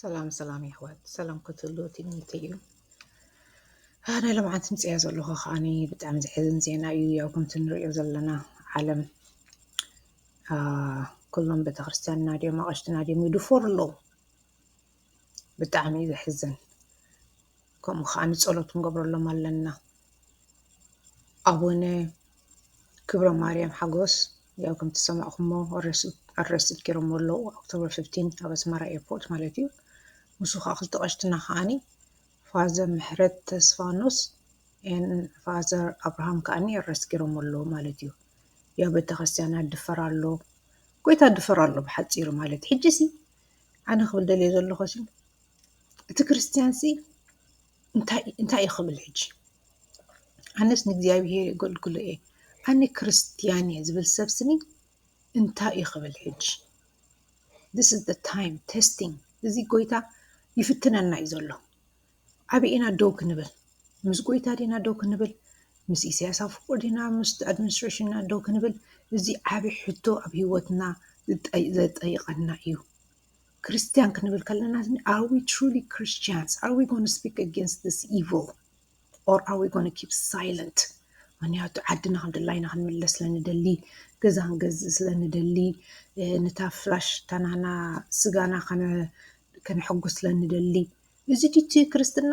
ሰላም ሰላም የሕዋት ሰላም ክትህሉ ትምኒት እዩ ናይ ሎምዓንቲ ምፅያ ዘለኹ ከዓኒ ብጣዕሚ ዘሕዝን ዜና እዩ ያው ከምቲ ንሪኦ ዘለና ዓለም ኩሎም ቤተክርስትያንና ድዮም ኣቐሽትና ድዮም ይድፈሩ ኣለዉ ብጣዕሚ እዩ ዘሕዝን ከምኡ ከኣ ንጸሎት ክንገብረሎም ኣለና ኣቡነ ክብረማርያም ሓጎስ ያው ከምቲ ዝሰማዕኩሞ ኣረስት ገይሮሞ ኣለዉ ኦክቶበር ፍፍቲን ኣብ ኣስመራ ኤርፖርት ማለት እዩ ንሱ ከዓ ክልተ ቀሽትና ከዓኒ ፋዘ ምሕረት ተስፋኖስ ን ፋዘር ኣብርሃም ከዓኒ ኣረስት ገይሮሞ ኣለዉ ማለት እዩ ያው ቤተክርስትያና ድፈር ኣሎ ጎይታ ድፈር ኣሎ ብሓፂሩ ማለት ሕጂ ሲ ኣነ ክብል ደልየ ዘለኹ እቲ ክርስትያን ሲ እንታይ እንታይ እዩ ክብል ሕጂ? ኣነስ ንእግዚኣብሄር የገልግሎ እየ ኣነ ክርስትያን እየ ዝብል ሰብ ስኒ እንታይ እዩ ክብል ሕጂ? ዚስ ኢዝ ዘ ታይም ተስቲንግ እዚ ጎይታ ይፍትነና እዩ ዘሎ ኣበይ ኢና ደው ክንብል ምስ ጎይታ ዲና ደው ክንብል ምስ ኢሰያስ ኣፈወርቂ ዲና ምስ ኣድሚንስትሬሽን ዲና ደው ክንብል እዚ ዓቢ ሕቶ ኣብ ሂወትና ዘጠይቀና እዩ። ክርስትያን ክንብል ከለና ኣር ዊ ትሩሊ ክርስትያንስ ኣር ዊ ጎነ ስፒክ ኣጌንስት ዚስ ኢቭል ኦር ኣር ዊ ጎነ ኪፕ ሳይለንት ምክንያቱ ዓድና ከም ድላይና ክንምለስ ስለ ንደሊ ገዛ ክንገዝእ ስለ ንደሊ ነታ ፍላሽ ታናና ስጋና ከነሕጉስ ስለ ንደሊ እዚ ድዩ እቲ ክርስትና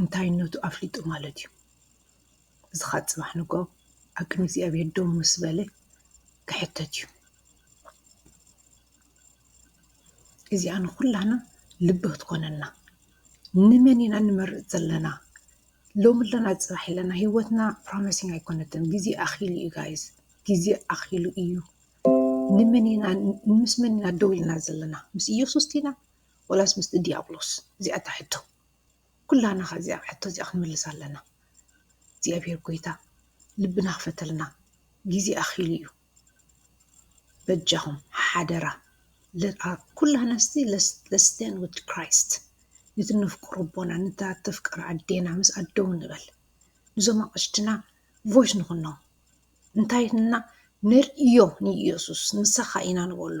እንታይነቱ ኣፍሊጡ ማለት እዩ። እዚ ኸኣ ጽባሕ ንግሆ ኣብ ቅድሚ እግዚኣብሄር ደው ምስ በለ ክሕተት እዩ። እዚኣ ንዅላና ልቢ ክትኮነና ንመን ኢና ንመርጽ ዘለና ሎሚ ኣለና ጽባሕ ኣለና ህይወትና ፕሮሚሲንግ ኣይኮነትን ግዜ ኣኺሉ እዩ ጋይስ ግዜ ኣኺሉ እዩ ንመን ኢና ምስ መን ኢና ደው ኢልና ዘለና ምስ ኢየሱስ ዲና ወላስ ምስቲ ዲያብሎስ እዚኣ እታ ሕቶ ኩላና ከ እዚኣ ሕቶ እዚኣ ክንምልሳ ኣለና። እግዚኣብሔር ጎይታ ልብና ክፈተልና ግዜ ኣኺሉ እዩ። በጃኹም ሓደራ ኩላና እስቲ ለስቴን ውድ ክራይስት ነቲ ነፍቅሮ ኣቦና ነታ ተፍቅር ኣዴና ምስ ኣደው ንበል ንዞም ኣቕሽትና ቮይስ ንኹኖም እንታይ እና ነርእዮ ንኢየሱስ ንሳኻ ኢና ንበሎ።